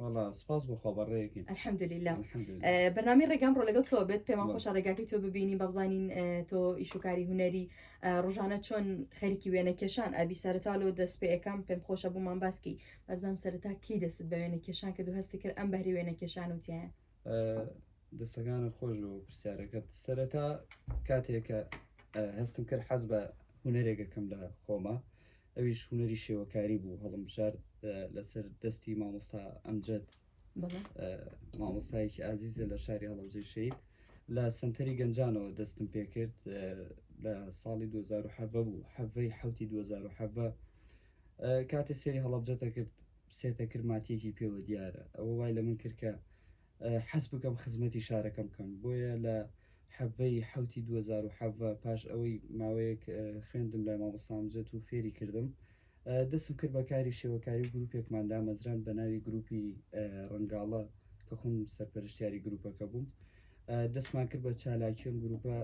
وەڵا سپاس بۆ خوا بەڕێیەکەین الحمدللە الحمدللە بەرنامەی ڕێگام ڕۆ لەگەڵ تۆ بێت پێمان بەڵێ. خۆشە ڕێگاکەی تۆ ببینین بە بزانین اه، تۆ ئیش و کاری هونەری اه، ڕۆژانە چۆن خەریکی وێنە کێشان ئەبی سەرەتا لۆ دەست پێ ئەکەم پێم خۆشە بۆمان باسکی بەبزانم سەرەتا کی دەستت بە وێنە کێشان کرد و هەستی کرد ئەم بەهرەی وێنە کێشان و تایە اه، دەستەکانە خۆش بۆ پرسیارەکەت سەرەتا کاتێکە اه، هەستم کرد حەز بە هونەرێکەکەم لە خۆما ئەویش هونەری شێوەکاری بوو هەڵمبژارد لەسەر دەستی مامۆستا ئەمجەد مامۆستایەکی ئازیزە لە شاری هەڵەوجەی شەید لە سنتەری گەنجانەوە دەستم پێکرد لە ساڵی 2010 بوو حەڤەی حوتی 2010 کاتێ سێری هەڵەبجەتە کرد سێتە کرماتیەکی پێوە دیارە ئەوە وای لە من کردکە حەز بکەم خزمەتی شارەکەم بکەم، بۆیە لە حەڤە ی حەوتی دوو هەزار و حەڤە پاش ئەوەی ماوەیەک خوێندم لای مامۆستا ئەمجەد و فێری کردم دەستم کرد بە کاری شێوەکاری و گروپێکمان دامەزراند بە ناوی گروپی ڕەنگاڵە کە خۆم سەرپەرشتیاری گروپەکە بووم دەستمان کرد بە چالاکی ئەم گروپە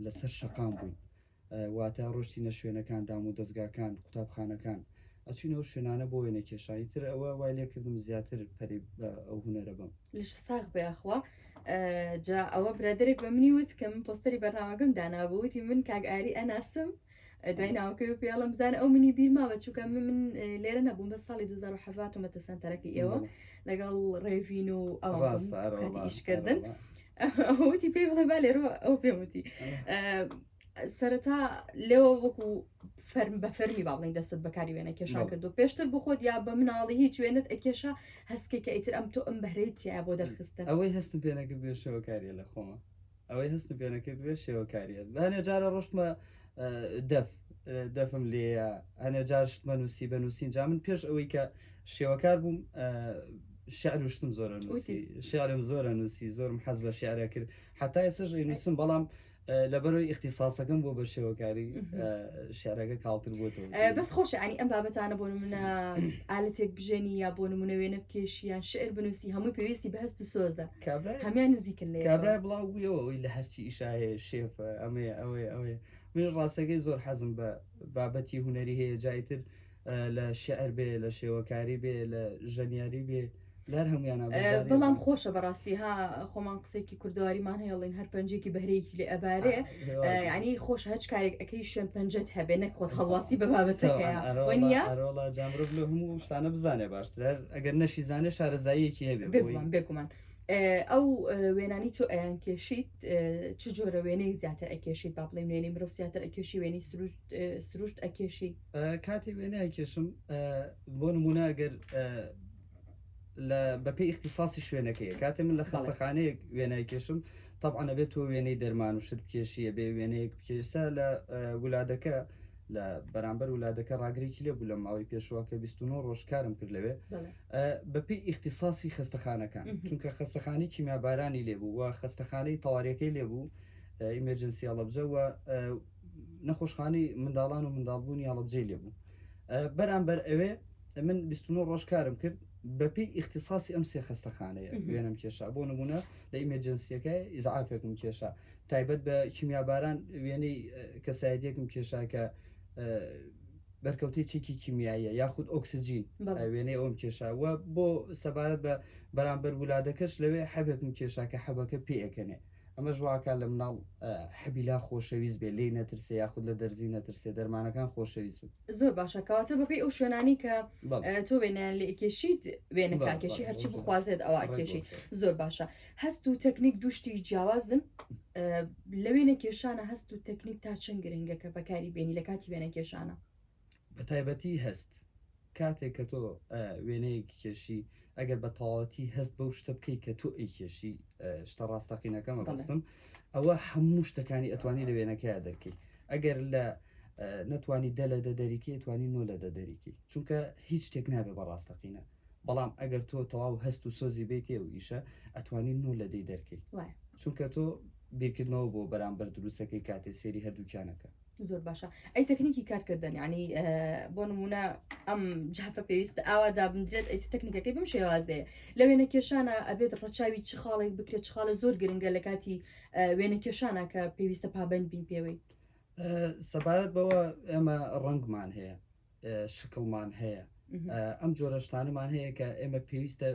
لەسەر شەقام بووین واتە ڕۆشتینە شوێنەکان دام و دەزگاکان قوتابخانەکان ئەچوین ئەو شوێنانە بۆ وێنە کێشان ئیتر ئەوە وای لێ کردم زیاتر پەرەی بە ئەو هونەرە بەم. لەشت ساغ بێ یاخوا. جا ئەوە برادەرێک بە منی وت کە من پۆستەری بەرنامەکەم دانابوو وتی من کاک ئاری ئەناسم دوای ناوەکەی و پێڵم بزانە ئەو منی بیر ماوە چووکە من من لێرە نەبووم بە ساڵی 2007 ومەتە سەنتەرەکە ئێوە لەگەڵ ڕێڤین و ئەوان ئیشکردن وتی پێی بڵێ با لێرەوە ئەو پێم وتی سەرەتا لێەوە وەکو فەرم بە فەرمی با بڵین دەستت بەکاری وێنە کێشا کردو پێشتر بخۆت یا بە مناڵی هیچ وێنت ئەکێشا هەستکێکە ئیتر ئەم تۆ ئەم بەهرەی تیا بۆ دەرخستن ئەوەی هەستم پێنەکرد بێشەوەکاریە لە خۆمە ئەوەی هەستم پێنەکرد بێ شێوەکاریە بەێ جارە ڕۆشتمە دەف دەفم لێیە هەنێ جار شتمە نووسی بە نووسین جا من پێش ئەوەی کە شێوەکار بووم شعر و شتم زۆرە نووسی شعرم زۆرە نووسی زۆرم حەز بە شعرە کرد حتا ئێسش نووسم بەڵام لەبەرەوەی اختصاصەکەم بۆ بە شێوەکاری شعرەکە کاڵتر بۆتەوە بەس خۆش ینی ئەم بابەتانە بۆ منە ئالەتێک بژێنی یا بۆ نمونە وێنە بکێشیان شعر بنووسی هەمووی پێویستی بەهست و سۆزە کابرای هەمان نزیکن لێ کابرای بڵاو بوویەوە ئەوی لە هەرچی ئیشاهەیە شێفە ئەمەیە ئەوەیە ئەوەیە من ڕاستەکەی زۆر حەزم بە بابەتی هوەری هەیە جایتر لە شعر بێ لە شێوەکاری بێ لە ژەنیاری بێ لەر هەمویان بەڵام خۆشە بەڕاستی ها خۆمان قسێکی کوردواریمان هەیەڵین هەر پەنجێکی بەرەیەکی لێ ئەبارێ یانی خۆش هەچ کارێک ئەەکەی شوێن پەنجەت هەبێ نەک خۆت هەڵواسی بە بابەتەکەیەڕۆڵە جامرۆ لە هەموو شتانە بزانێ باشترە ئەگەر نەشی زانێ شارەزاییەکی هەبێ بێگومان بێگومان ئەو وێنانی تۆ ئەیان کێشیت چ جۆرە وێنەی زیاتر ئەکێشیت با بڵێ نوێنی مرۆڤ زیاتر ئەکێشی وێنی سروشت ئەکێشی کاتی وێنە کێشم بۆ نمونە گەر لە بەپێی ئیختیساسی شوێنەکەیە کاتێ من لە بەڵێ. خەستەخانەیەک وێنای کێشم تەبعەن ئەبێ تۆ وێنەی دەرمان و شت بکێشی ئەبێ وێنەیەک بکێ ئێستا لە ولادەکە لە بەرامبەر ولادەکە ڕاگرێکی لێبوو لە ماوەی پێشوە کە بیست و نۆ ڕۆژ کارم کرد لەوێ بەڵێ. بەپێی ئیختیساسی خەستەخانەکان مهم. چونکە خەستەخانەی کیمیابارانی لێبوو و خەستەخانەی تەواریەکەی لێبوو ئیمێرجنسی هەڵەبجە و نەخۆشخانەی منداڵان و منداڵبوونی هەڵەبجەی لێبوو بەرامبەر ئەوێ من بیست و نۆ ڕۆژ کارم کرد بەپێی ئیختیساسی ئەم سێ خەستەخانەیە وێنم کێشا بۆ نمونە لە ئیمەجنسیەکە ئیزعافێکم کێشا تایبەت بە کیمیاباران وێنەی کەسایەتێکم کێشا کە بەرکەوتی چێکی کیمیاییە یاخود ئۆکسسیجین وێنەی ئەوم کێشاوە بۆ سەبارەت بە بەرامبەر ولادەکەش لەوێ حەبێکم کێشا کە حەبەکە پێەکەنێ ئەمەش واکات لە مناڵ حبیلا خۆشەویست بێت لێی نەترسێ یاخود لە دەرزی نەترسێ دەرمانەکان خۆشەویست بن. زۆر باشە کەواتە بەپێی ئەو شوێنانەی کە تۆ وێنەیان لێ ئەکێشیت وێنەکە ئەکێشی هەرچی بخوازێت ئەوە ئەکێشی زۆر باشە هەست و تەکنیک دوو شتی جیاوازن لە وێنە کێشانە هەست و تەکنیک تا چەند گرنگە کە بەکاری بێنی لە کاتی وێنە کێشانە بەتایبەتی هەست کاتێک کە تۆ وێنەیەکی کێشی ئەگەر بە تەواوەتی هەست بەو شتە بکەیت کە تۆ ئەی کێشی شتە ڕاستەقینەکەمە بەستم ئەوە هەموو شتەکانی ئەتوانی لە وێنەکەی دەرکەی ئەگەر لە نەتوانی دە لە دە دەریکی توانی نۆ لە دە دەریکی چونکە هیچ شتێک نابێ بە ڕاستەقینە بەڵام ئەگەر تۆ تەواو هەست و سۆزی بیتێ و ئیشە ئەتوانی نۆ لە دەی دەرکەی چونکە تۆ بیرکردنەوە بۆ بەرامبەر دروستەکەی کاتێ سێری هەردووکیانەکە زۆر باشە ئەی تەکنیکی کارکردن ینی بۆ نمونە ئەم جافە پێویستە ئاوا دابدرێت ئەی تەکنیکەکەی بم شێوازەیە لە وێنە کێشانە ئەبێت ڕەچاوی چ خاڵێک بکرێت خاڵە زۆر گرنگە لە کاتی وێنە کێشانە کە پێویستە پابند بین پێوەی سەبارەت بەوە ئێمە ڕەنگمان هەیە شکڵمان هەیە ئەم جۆرە شتانەمان هەیە کە ئێمە پێویستە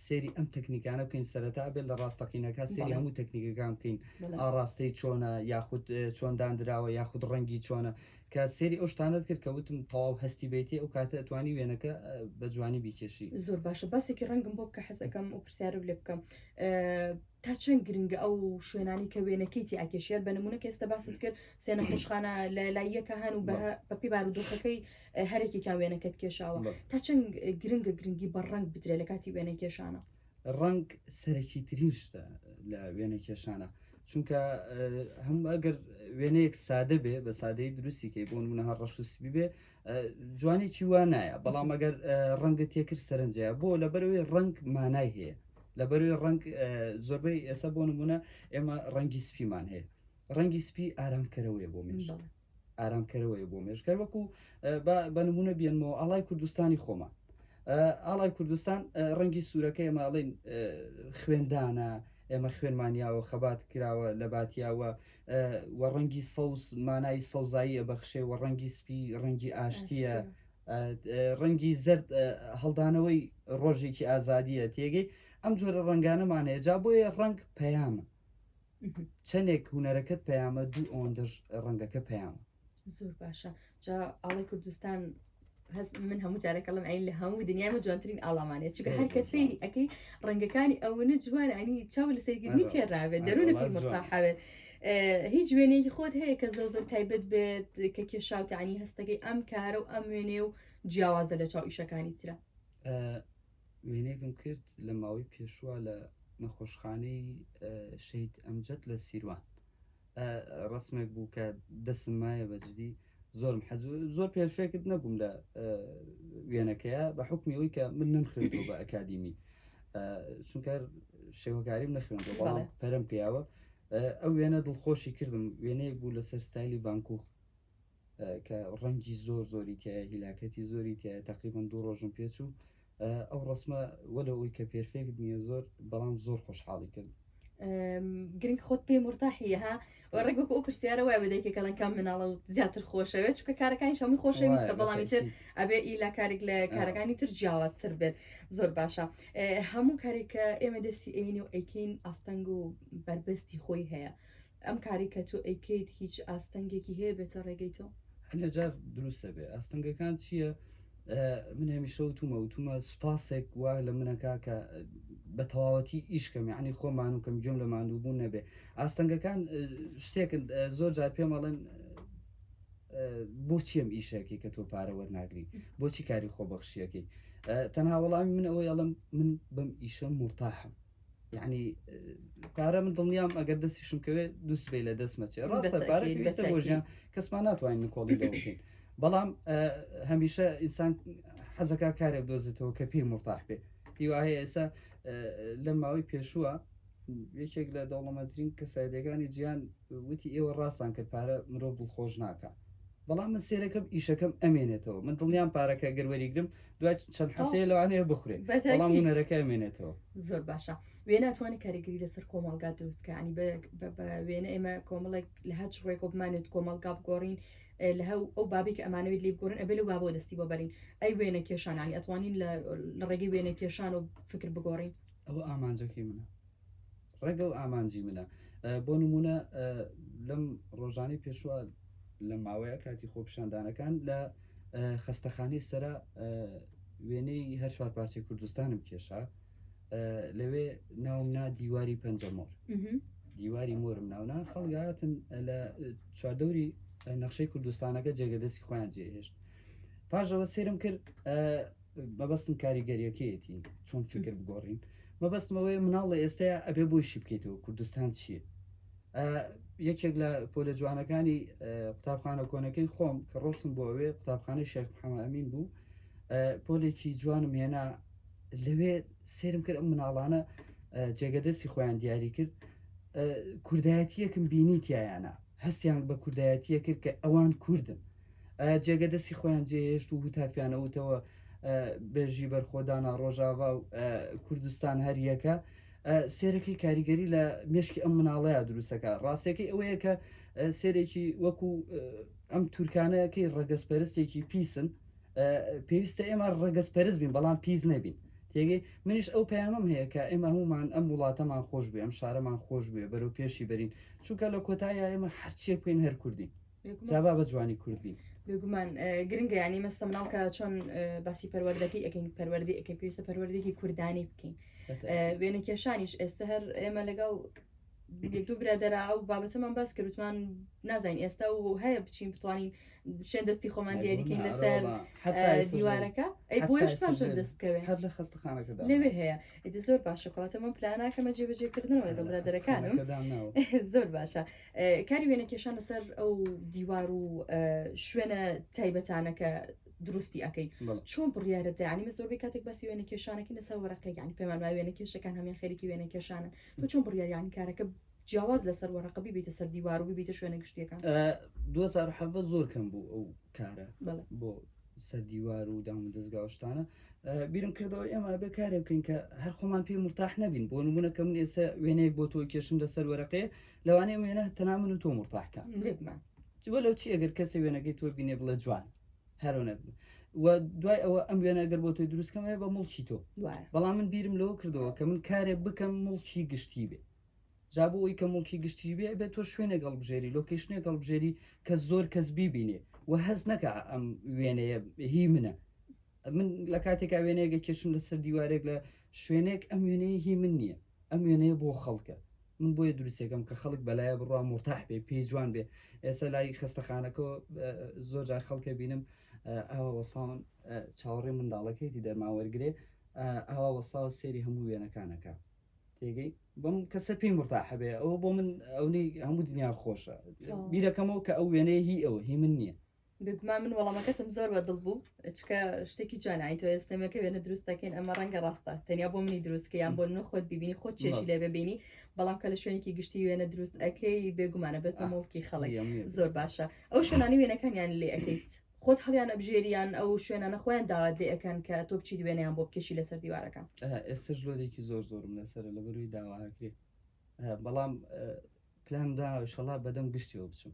سێری ئەم تەکنیکانە بکەین سەرەتا بێت لە ڕاستەقینەکە سێری هەموو تەکنیکەکان بکەین ئاڕاستەی چۆنە یاخود چۆندان دراوە یاخود ڕەنگی چۆنە کە سێری ئەو شتانت کرد کە وتم تەواو هەستی بێتی ئەو کاتە توانی وێنەکە بە جوانی بیکێشی زۆر باشە باسێکی ڕەنگم بۆ بکە حەزەکەم و پرسیارە لێ بکەم تا چەند گرنگە ئەو شوێنانی کە وێنەکەی تیا کێشێر بە نمونە کە ئێستا باست کرد سێنە خۆشخانە لە لایەکە هەن و بە بەپی بارودۆخەکەی هەرێکێکیان وێنەکەت کێشاوە تا چەند گرنگە گرنگی بە ڕنگ بدرێت لە کاتی وێنە کێشانە ڕنگ سەرەکی ترین شتە لە وێنە کێشانە چونکە هەم ئەگەر وێنەیەک سادە بێ بە سادەی دروستی کەی بۆ منە هەر ڕەش و سبی بێ جوانێکی وا نایە بەڵام ئەگەر ڕەنگە تێکرد سەرنجە بۆ لە بەرەوەی ڕنگ مانای هەیە لە بەروی ڕنگ زۆربەی ئێستا بۆ نمونە ئێمە ڕەنگی سپیمان هەیە ڕەنگی سپی ئارامکەرەوەی بۆ مێژ ئارامکەرەوەی بۆ مێژکەر وەکو بە نمونە بێنمەوە ئاڵای کوردستانی خۆمان ئاڵای کوردستان ڕەنگی سوورەکە ئێمە ئەڵین خوێندانە ئێمە خوێنمانیاوە خەبات کراوە لە باتیاوە وە ڕەنگی سەوز مانای سەوزایی ئەبەخشێ وە ڕەنگی سپی ڕەنگی ئاشتیە ڕەنگی زرد هەڵدانەوەی ڕۆژێکی ئازادیە تێگەی ئەم جۆرە ڕەنگانەمانەیە جا بۆیە ڕەنگ پەیامە چەندێک هوەرەکەت پەیامە دوو ئەوەندەش ڕەنگەکە پەیامە زۆر باشە جا ئاڵی کوردستان هەست من هەموو جارێک لەم ئەین لە هەموو دنیای من جوانترین ئاڵامانێت چونکە هەر کە سەیری ئەەکەی ڕەنگەکانی ئەوەنە جوان ئەنی چاو لە سەرگیرنی تێراوێت دەرونە پڕتاحاوێت هیچ وێنەیەکی خۆت هەیە کە زۆر زۆر تایبەت بێت کە کێشاوتانی هەستەکەی ئەم کارە و ئەم وێنێ و جیاوازە لە چاو ئیشەکانی ترە وێنێکم کرد لە ماوەی پێشوە لە نەخۆشخانەی شەید ئەمجد لە سیروان ڕەسمێک بوو کە دەسم مایە بەجدی زۆرم حەز زۆر پێرفێکت نەبووم لە وێنەکەیە بە حکمی ئەوی کە من نم خوێن بە ئەکادیمی چونکە شێوەکاریم نەخوێن بەڵام پەرم پیاوە ئەو وێنە دڵخۆشی کردم وێنەیەک بوو لەسەر ستایلی بانکوخ کە ڕەنگی زۆر زۆری تیایە هیلاکەتی زۆری تیایە تەقریبەن دوو ڕۆژم پێچوو ئەو ڕسمە وەلە ئەوی کە پێرفێکت نییە زۆر بەڵام زۆر خۆشحاڵی کرد گرنگ خۆت پێی مرتاحی ها ڕێک وەک ئەو پرسیارە وای بەدەیکە کەڵەن کام مناڵە و زیاتر خۆشەوێت چکە کارەکانی هەمووی خۆشەویستە بەڵامی تر ئەبێ ئیلا کارێک لە کارەکانی تر جیاوازتر بێت زۆر باشە هەموو کارێکە ئێمە دەستی ئەینی و ئەیکین ئاستەنگ و بەربەستی خۆی هەیە ئەم کارەی کە تۆ ئەیکەیت هیچ ئاستەنگێکی هەیە بێتە ڕێگەی تۆ؟ هەنێجار دروستە بێ ئاستەنگەکان چییە؟ من هەمیشە وتومە وتومە سوپاسێک وا لە منەکە کە بە تەواوەتی ئیشکەم ینی خۆمان و کەم گوێم لە ماندووبوون نەبێ ئاستەنگەکان شتێکن زۆر جار پێمەڵێن بۆچی ئەم ئیشەکەی کە تۆ پارە وەرناگری بۆچی کاری خۆبەخشیەکەی تەنها وەڵامی من ئەوەی ئەڵم من بەم ئیشە مرتاحم یعنی پارە من دڵنیام ئەگەر دەستیشم کەوێت دووسبەی لە دەستمەچێ ڕاستە پارە پێویستە بۆ ژیان کەسمان ناتوانین نکۆڵی لە بکەین بەڵام هەمیشە ئینسان حەزەکە کارێ دۆزێتەوە کە پێی مرتاح بێ هیوا هەیە ئێستا لە ماوەی پێشووە یەکێک لە دەوڵەمەترین کەسایەتەکانی جیان وتی ئێوە ڕاستان کرد پارە مرۆڤ دڵخۆش ناکە بەڵام من سێرەکەم ئیشەکەم ئەمێنێتەوە من دڵنیان پارەکە گەروەریگرم دوای چەند هەفتەیە لەوانەیە بخورێت بەڵام هونەرەکەی مێنێتەوە زۆر باشە وێ ناتوانانی کاریگەری لەسەر کۆمەڵگا دروستکانی بە وێنە ئێمە کۆمەڵێک لە هەچ ڕێکۆ بمانێت کۆمەڵگا بگۆڕین لە هەو ئەو بابی کە ئەمانەوێت لی بگۆڕن ئەبێ لە بابۆ دەستی بۆ بەرین ئەی وێنە کێشانانی ئەتوانین لە ڕێگەی وێنە کێشان و فکر بگۆڕین ئەوە ئامانجەکەی منە ڕێگە و ئامانجی منە. بۆ نموونە لەم ڕۆژانەی پێشوە لە ماوەیە کاتی خۆپشاندانەکان لە خەستەخانەی سرە وێنەی هەر چوار پارچەی کوردستانم کێشا لەوێ ناوم نا دیواری پەنجەمۆر دیواری مۆرم ناونا خەڵگاتن لە چواردەوری نەخشەی کوردستانەکە جێگەدەستی خۆیان جێهێشت پاشەوە سێرم کرد مەبەستم کاریگەریەکەیەتی چۆن فیکر بگۆڕین مەبەستم ئەوەیە مناڵ لە ئێستەیە ئەبێ بۆی شی بکەیتەوە کوردستان چییە یەکێک لە پۆلە جوانەکانی قوتابخانە کۆنەکەی خۆم کە ڕۆشتم بۆ ئەوێ قوتابخانەی شێخ محەمە ئەمین بوو پۆلێکی جوانم هێنا لەوێ سێرم کرد ئەم مناڵانە جێگەدەستی خۆیان دیاری کرد کوردایەتیەکم بینی تایانە هەستیان بە کوردایەتیە کرد کە ئەوان کوردن جێگە دەستی خۆیان جێهێشت و هوتافیانەوتەوە بێژی بەرخۆدانا ڕۆژاوا و کوردستان هەریەکە سێرەکەی کاریگەری لە مشکی ئەم مناڵەیە دروستەکە ڕاستەکەی ئەوەیە کە سێرێکی وەکو ئەم تورکانەکەی ڕەگەز پەرستێکی پیسن پێویستە ئێمە ڕەگەز پەرست بین بەڵام پیس نەبین تێگەی منیش ئەو پەیامم هەیە کە ئێمە هەمومان ئەم وڵاتەمان خۆش بێ ئەم شارەمان خۆش بێ بەرەو پێشی بەرین چونکە لە کۆتایە ئێمە هەرچێک بین هەر کوردین جا با بە جوانی کورد بین بێگومان گرنگە ینی مەستە مناڵ کە چۆن باسی پەروەردەکەی ئەەکەین پەروەردی ئەەکەی پێویستە پەروەردێکی کوردانی بکەین وێنە کێشانیش ئێستا هەر ئێمە لەگەڵ دوو برادرا ئەو بابەتەمان باس کردوتمان نازانین ئێستا و هەیە بچین بتوانین شوێن دەستی خۆمان دیاریکەین لەسەر دیوارەکە ئەی بۆشتان چۆن دەست بکەوێت هەر لە خستەخانەکە لەوێ هەیە ئیدی زۆر باشە کەواتە من پلاناکەمە جێبەجێکردنەوە لەگەڵ برادەرەکانم زۆر باشە کاری وێنە کێشان لەسەر ئەو دیوار و شوێنە تایبەتانە کە دروستی ئەەکەی چۆن بڕیاە دەیانی مە زۆربەی کاتێک باسی وێنە کێشانەکە لەسا وەرەقەکانی پێمان ما وێنە کێشەکان هەمیان خەریکی وێنە کێشانە بە چۆن بڕیاریانی کارەکە جیاواز لەسەر وەرەقەبی بیتە سەر دیوار و بیتە شوێنە گشتیەکان 2010 زۆر کەم بوو ئەو کارە بۆ سەر دیوار و دام و دەستگاوشتانە بیرم کردەوە ئێمە بە کارێ بکەین کە هەر خۆمان پێ مرتاح نەبین بۆ نمونونەکە من ئێستا وێنەیەک بۆ تۆ کێشم لەسەر وەرەقێ لەوانەیە ئەم وێنە تەنها من و تۆ مرتاح کە بێبمان جوە لەو چی ئەگەر کەسێ وێنەکەی تۆ بینێ بڵێ جوان هەرۆنە بن و دوای ئەوە ئەم وێنە ئەگەر بۆ تۆی دروستکەمەیە بە مڵکی تۆ وایە بەڵام من بیرم لەوە کردەوە کە من کارێ بکەم مڵکی گشتی بێ جا بۆ ئەوی کە مڵکی گشتی بێ بێت تۆ شوێنێک هەڵبژێری لۆکیشنێک هەڵبژێری کە زۆر کەس بیبینێ و هەز نەکە ئەم وێنەیە هی منە من لە کاتێکا وێنەیەگە کێشم لەسەر دیوارێک لە شوێنێک ئەم وێنەیە هی من نییە ئەم وێنەیە بۆ خەڵکە من بۆیە دروستەکەم کە خەڵک بەلایە بڕوا مورتاح بێ پێی جوان بێ ئێستا لای خەستەخانەکەەوە زۆر جار خەڵکە بینم ئاوا وەساون چاوەڕێ منداڵەکەیتی دەرمان وەرگێ ئاوا وەساوە سێری هەموو وێنەکانەکە تێگەی بەم کەسە پێی مرتاحە بێ ئەوە بۆ من ئەونەی هەموو دنیا خۆشە بیرەکەمەوە کە ئەو وێنەیە هی ئەوە هی من نییە بێگومان من وەڵامەکەتم زۆر بە دڵ بوو چکە شتێکی جوان ئایتۆ ئێستەمەکە وێنە دروست دەکەین ئەمە ڕەنگە ڕاستە تەنیا بۆ منی دروستکە یان بۆ نە خۆت ببینی خۆ چێشی لێ ببینی بەڵام کە لە شوێنێکی گشتی وێنە دروست ئەەکەی بێگومانە بێتە مڵکی خەڵک زۆر باشە ئەو شوێنانی وێنەکانیان لێ ئەەکەیت خۆت هەڵیان ئەبژێریان ئەو شوێنانە خۆیان داوات لێ ئەەکەن کە تۆ بچیت وێنیان بۆ بکەشی لەسەر دیوارەکە ئێستش لۆدێکی زۆر زۆرم لەسەر لە بەروی داواکرێ بەڵام پلان دا شەڵا بەدەم گشتیەوە بچم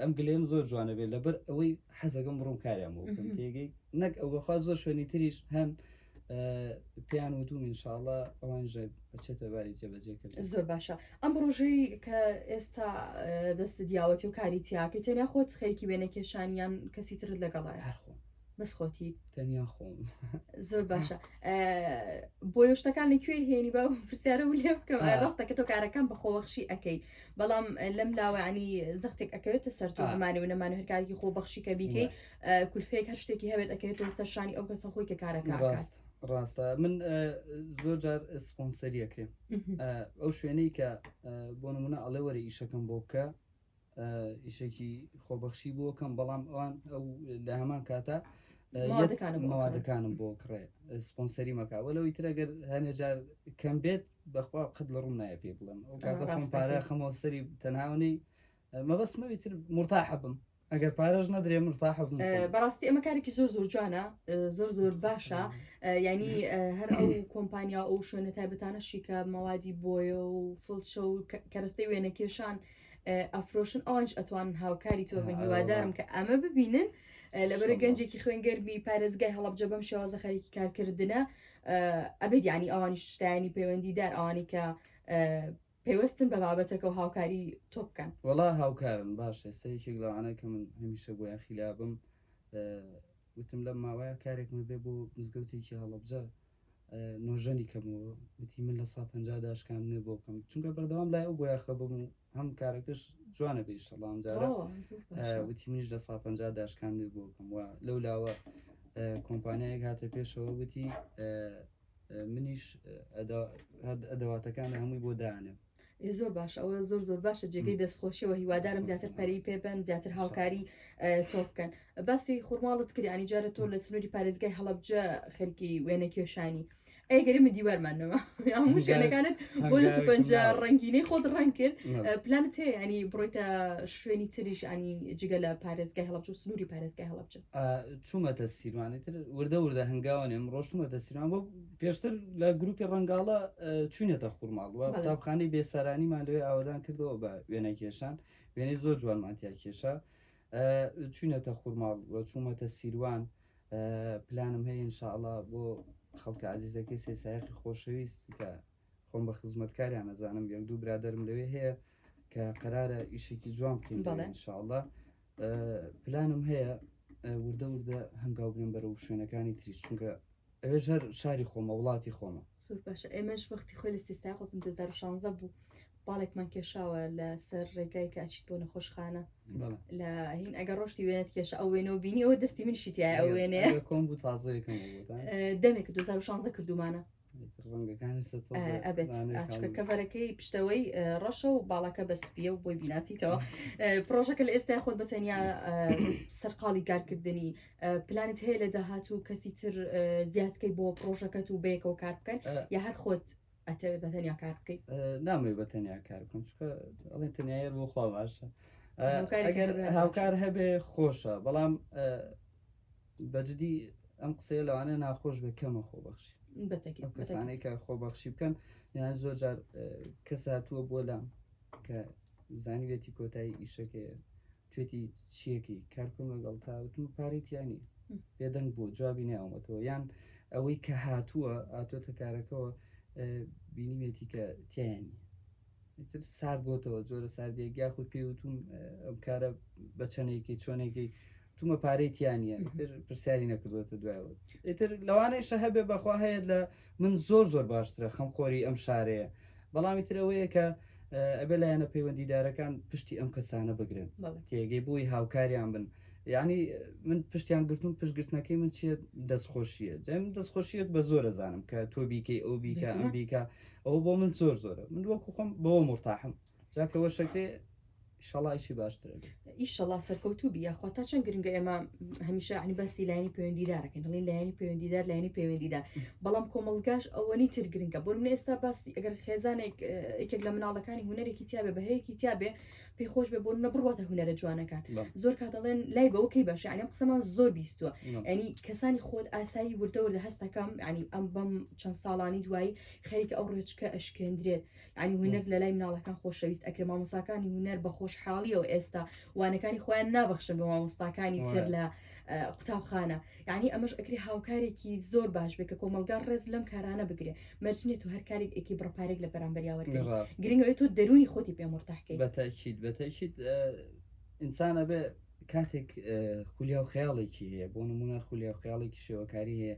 ئەم گلەیەم زۆر جوانە بێت لەبەر ئەوەی حەزەکەم بڕم کاریان بۆ بکەم تێگەی نەک ئەوەخوا زۆر شوێنی تریش هەن پێیان وتوم انشاءله ئەوانژە ئەچێتە باری جێبەجێ کرد زۆر باشە ئەم ڕۆژەی کە ئێستا دەست دیاوەتی و کاری تیاکە تێنیا خۆت خەیەکی وێنە کێشانیان کەسی ترت لەگەڵای هەرخۆ بەس خۆتی تەنیا خۆم زۆر باشە بۆیە شتەکان لە کوێ هێنی بە پرسیارە و لێ بکەم ڕاستە کە تۆ کارەکان بەخۆوەخشی ئەەکەی بەڵام لەم لاوانی زەختێک ئەکەوێتە سەر تۆمانێ و نەمان هەرکارێکی خۆ بەخشی کە بیکەی کولفێک هەر شتێکی هەبێت ئەکەوێتەوە سەرشانی ئەو کەسە خۆی کە کارەکە ڕاست ڕاستە من زۆر جار سپۆنسەریەکرێ ئەو شوێنەی کە بۆ نمونە ئەڵێ وەرە ئیشەکەم بۆ بکە ئیشێکی خۆبەخشی بۆ کەم بەڵام ئەوان ئەو لە هەمان کاتە مەوادەکانم بۆ کڕێ سپۆنسەری مەکە وە لەوەی ترەگەر هەنێجار کەم بێت بەخوا قەت لە ڕوون نایە پێ بڵم ئەو کاتە خۆم پارە خەمەوە سەری تەناونەی مەبەستمەوی تر مرتاح بم ئەگەر پارەش نەدرێ مرتاح بم بەڕاستی ئەمە کارێکی زۆر زۆر جوانە زۆر زۆر باشە ینی هەر ئەو کۆمپانیا ئەو شوێنە تایبەتانەشی کە مەوادی بۆیە و فڵچە و کەرەستەی وێنەکێشان ئەفرۆشن ئەوانش ئەتوانن هاوکاری تۆ بن هیوادارم کە ئەمە ببینن لەبەر گەنجێکی خوێنگەرمی پارێزگای هەڵبجە بەم شێوازە خەریکی کارکردە ئەبێت ینی ئەوانی شتانی پەیوەندیدار ئەوانی کە پێوەستن بە بابەتەکە و هاوکاری تۆ بکەن وڵا هاوکارن باش ئێستا یەکێک لەوانە کە من هەمیشە بۆ یاخیلابم وتم لەم ماوەیە کارێکمە بێ بۆ مزگەوتێکی هەڵبجە نۆژەنی کەمەوە وتی من لە سا پەنجا دا شکاندنێ بۆ بکەم چونکە بەردەوام لای ئەو بۆیە خەبم و هەم کارەکەش جوانە بە ئیشەڵا ئەمجارە ئەوە زوو باشە. ئە، وتی منیش لە سا پەنجا دا شکاندنێ بۆ بکەم و لەو لاوە ئە، کۆمپانیایەک هاتە پێشەوە وتی ئە، ئە، منیش ئە، ئەدا- هەر ئەدەواتەکان هەمووی بۆ دانێم زۆر باش ئەوە زۆر زۆر باشە جێگەی دەستخۆشیەوە هیوادارم زیاتر پەری پێبن زیاتر هاوکاری تۆ بکەن باسی خورماڵت کریانی جارە تۆ لە سنووری پارێزگای هەڵبجە خەرکی وێنە کێشانی ئەگەری من دیوارمانەوە هەموو شوێنەکانت بۆ پنج ڕنگینەی خۆت ڕنگ کرد پلانت هەیە ینی بڕۆیتە شوێنی تریش ئەنی جگە لە پارێزگای هەڵبچ و سنووری پارێزگای هەڵبچە چوومەتە سیروانی تر وردە وردە هەنگاوە نێم ڕۆشتمەتە سیروان بۆ پێشتر لە گروپی ڕەنگاڵە چوینێتە خورماڵ و قوتابخانەی بێسەرانیمان لەوێ ئاوادان کردەوە بە وێنە کێشان وێنەی زۆر جوانمانتیا کێشە چوینێتە خورماڵ و چوومەتە سیروان پلانم هەیە انشاءله بۆ خەڵکە عزیزەکەی سێسایقی خۆشەویست کە خۆم بە خزمەتکاریان ئەزانم یەک دوو برادرم لەوێ هەیە کە قەرارە ئیشێکی جوان بکەین بەڵێ. لەوێ انشاءاللە ئە، پلانم هەیە ئە، وردە وردە هەنگاو بنێم بەرەو شوێنەکانی تریش چونکە ئەوێش هەر شاری خۆمە وڵاتی خۆمە زۆر باشە ئێمەش وەختی خۆی لە سیستای قوزم 2016 بوو باڵێکمان کێشاوە لەسەر ڕێگای کە ئەچیت بۆ نەخۆشخانە بەڵێ لە هین ئەگە ڕۆشتی وێنەت کێشە ئەو وێنەوە بینی ئەوە دەستی منشی تایە ئەو وێنەیە ئەگەر کۆم بوو تازەیەکەم بۆتان دەمێک 2016 کردومانە ئەبێت ئاچکە کەڤەرەکەی پشتەوەی ڕەشە و باڵەکە بە سپیە و بۆی بیناسیتەوە پرۆژەکە لە ئێستا خۆت بەتەنیا سەرقاڵی کارکردنی پلانت هەیە لە داهات و کەسی تر زیادکەی بۆ پرۆژەکەت و بەیەکەوە کار بکەن یا هەر خۆت ئەتەوێت بەتەنیا کار بکەیت نامەوێت بەتەنیا کار بکەم چکە ئەڵێ تەنیاەر بۆ خوا باشە هاوکار هەبێ خۆشە بەڵام بەجدی ئەم قسەیە لەوانەیە ناخۆش بێ کەمە خۆبەخشی ئەو کەسانەی کە خۆبەخشی بکەن یان زۆر جار کەس هاتووە بۆ لام کە زانیوێتی کۆتایی ئیشەکەیە توێتی چیەکەی کارکم لەگەڵ تاوتم پارێتیانی بێدەنگ بۆ جوابی ناومەتەوە یان ئەوەی کە هاتووە ئاتۆتە کارەکەەوە بینیوێتی کە تیانی ئیتر سارد بۆتەوە جۆرە ساردیەک یاخود پێی وتوم ئەم کارە بە چەندێکی چۆنێکی تومە پارەی تیانە تر پرسیاری نەکردوێتە دوایەوە ئیتر لەوانەیشە هەبێ بەخوا هەیە لە من زۆر زۆر باشترە خەم خۆری ئەم شارەیە بەڵامی ترەوەیە کە ئەبێ لایەنە پەیوەندیدارەکان پشتی ئەم کەسانە بگرن تێگەی بووی هاوکاریان بن یعنی من پشتیان گرتون پشتگرتنەکەی من چیە دەستخۆشیە جەم دەستخۆشیەک بە زۆرە زانم کە تۆ بیکەی ئەو بیکە ئەم بیکە ئەوە بۆ من زۆر زۆرە من وەکو خۆم بەوە مرتاحم جاکەەوە شەکرێ شەڵایشی باشتر ئیشەڵا سەرکەوتوو بی یاخوا تا چەند گرنگە ئێمە هەمیشە عنی باسی لایانی پەیوەندیدارەکەین دڵین لایانی پەیوەندیدار لایانی پەیوەندیدار بەڵام کۆمەڵگاش ئەوەنی تر گرنگە بۆ من ئێستا باسی ئەگەر خێزانێک یەکێک لە مناڵەکانی هوەرێکی تیاابێ بەهەیەکی تیاابێ پێ خۆش بێ بۆ نە بڕاتە هوەرە جوانەکان زۆر کا دەڵێن لای بەوە کەی باشە ئەم قسەمان زۆر بیستوە ئەنی کەسانی خۆت ئاسایی وردە وردە هەستەکەم ینی ئەم بەم چەند ساڵانی دوایی خەریکە ئەو ڕێچکە ئەشکێندرێت ینی هوەر لە لای مناڵەکان خۆشەویست ئەکرێ مامۆساکانی هوەر بە خۆشحاڵیەوە ئێستا وانەکانی خۆیان نابەخشن بە مامۆستاکانی تر لە قوتابخانە یەعنی ئەمەش ئەکرێ هاوکارێکی زۆر باش بێ کە کۆمەلگا ڕێز لەم کارانە بگرێ مەرج نیە تو هەر کارێک ئەکی بڕە پارێک لە بەرامبەریا وەرگری ڕاست گرنگەوەی تۆ دەروونی خۆتی پێ مورتاحکەی. بەتەئکید بەتەئکید ئینسان ئەبێ کاتێک خولیا و خەیاڵێکی هەیە بۆ نمونە خولیا و خەیاڵێکی شێوەکاری هەیە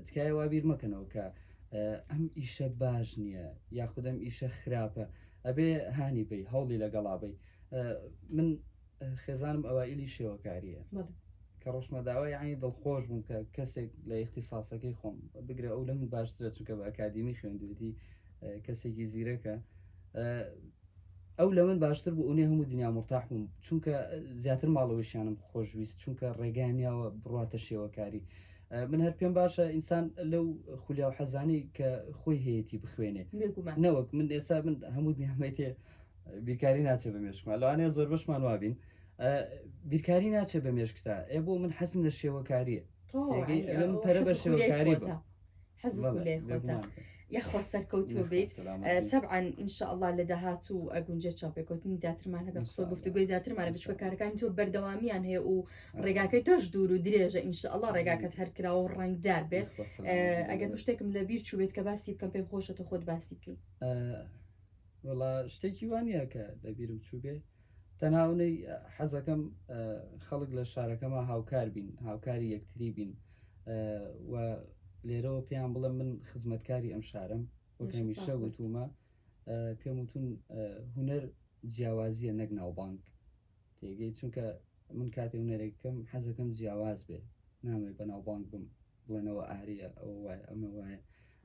تکایە وا بیر مەکەنەوە کە ئەم ئیشە باش نییە یاخودەم ئیشە خراپە ئەبێ هانی بی هەوڵی لەگەڵا بی من خێزانم ئەوائیلی شێوەکارییە. بەڵێ. کە ڕۆشتمە داوا یەعنی دڵخۆش بووم کە کەسێک لە ئیختیساسەکەی خۆم، بگرە ئەو لە من باشترە چونکە بە ئەکادیمی خوێندوێتی، کەسێکی زیرەکە، ئەو لە من باشتر بوو ئونێ هەموو دنیا مورتاح بووم چونکە زیاتر ماڵەوەشیانم خۆشویست چونکە ڕێگەیان نیاوە بڕاتە شێوەکاری. من هەر پێم باشە ئینسان لەو خولیا و حەزانەی کە خۆی هەیەتی بخوێنێ. بێگومان. نەوەک من ئێستا من هەموو دنیام مەیتێ. بیرکاری ناچێ بە مێشکمان لەوانەیە زۆربەشمان وابین بیرکاری ناچێ بە مێشکتا ئێ بۆ من حەسم لە شێوەکاریە پەرە بە شێوەکاری بە حەزم لێ خۆتە یاخۆ سەرکەوتوو بیت تەبعاان ئینشاءله لە داهات و ئەگونجێ چاپێکوتنی زیاترمان هەبێ قسە گفتوگوی زیاترمانە بچکە کارەکانی تۆ بەردەوامیان هەیە و ڕێگاکەی تۆش دوور و درێژە ئینشاءله ڕێگاکەت هەرکرا و ڕنگدار بێت ئەگەر مشتێکم لە بیر چوبێت کە باسی بکەم پێم خۆشە تۆ خۆت باسی بکەیت وەڵا شتێکی وا نییە کە لە بیرم چووبێ تەنها ئەونەی حەزەکەم خەڵک لە شارەکەما هاوکار بین هاوکاری یەکتری بین و لێرەوە پێیان بڵێم من خزمەتکاری ئەم شارم وەک هەمیشە وتومە پێم وتون هوەر جیاوازیە نەک ناوبانک تێگەی چونکە من کاتێ هوەرێکەکەم حەزەکەم جیاواز بێ نامێ بە ناوبانک بم بڵێن ئەوە ئاریە ئەوە وایە ئەمە وایە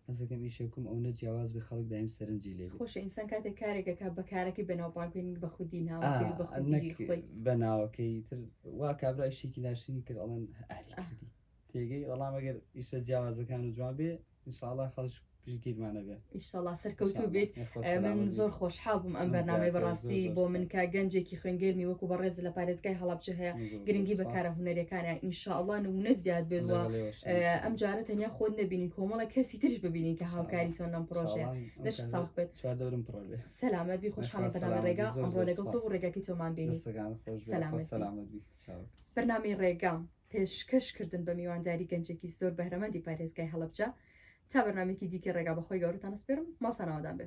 حەز دەکەم ئیشێ بکەم ئەونە جیاواز بێ خەڵک دایم سەرنجی لێ بێ. خۆشە ئینسان کاتێک کارێک ئەکا بە کارەکەی بەناو بانگبێ نەک بە خودی ناوەکەی و بە خودی ئا نەک خۆی. بە ناوەکەی تر وا کابرا ئیشێکی ناشرین کرد ئەڵێن ئاری کردی تێگەی وەڵام ئەگەر ئیشە جیاوازەکان و جوان بێ ان شاء اللە خەڵک پشتگیرمانە بێ. ئیشەڵا سەرکەوتوو بیت من زۆر خۆشحاڵ بووم ئەم بەرنامەی بەڕاستی بۆ من کە گەنجێکی خوێنگەرمی وەکو بەڕێز لە پارێزگای هەڵەبجە هەیە گرنگی بەکارە هونەرەکانە ئینشاءڵا نمونە زیاد بێت وە ئەم جارە تەنیا خۆت نبینین کۆمەڵە کەسی ترش ببینین کە هاوکاری تۆ نەم پرۆژێ دەش ساخ بێت چواردەورم پڕێ سەلامەت بی خۆشحاڵم بەنامە ڕێگا ئەمڕۆ لەگەڵ تۆ ڕێگەکی تۆمان بینی سەلامەت سەلامەت بی چاوەکە بەرنامەی ڕێگام پێشکەش کردن بە میوانداری گەنجێکی زۆر بەهرەمەندی پارێزگای هەڵەبجە تا بەرنامەیەکی دیکەی ڕێگا بەخۆی گەورەتان ئەسپێرم ماڵتان ئاوادان بێ.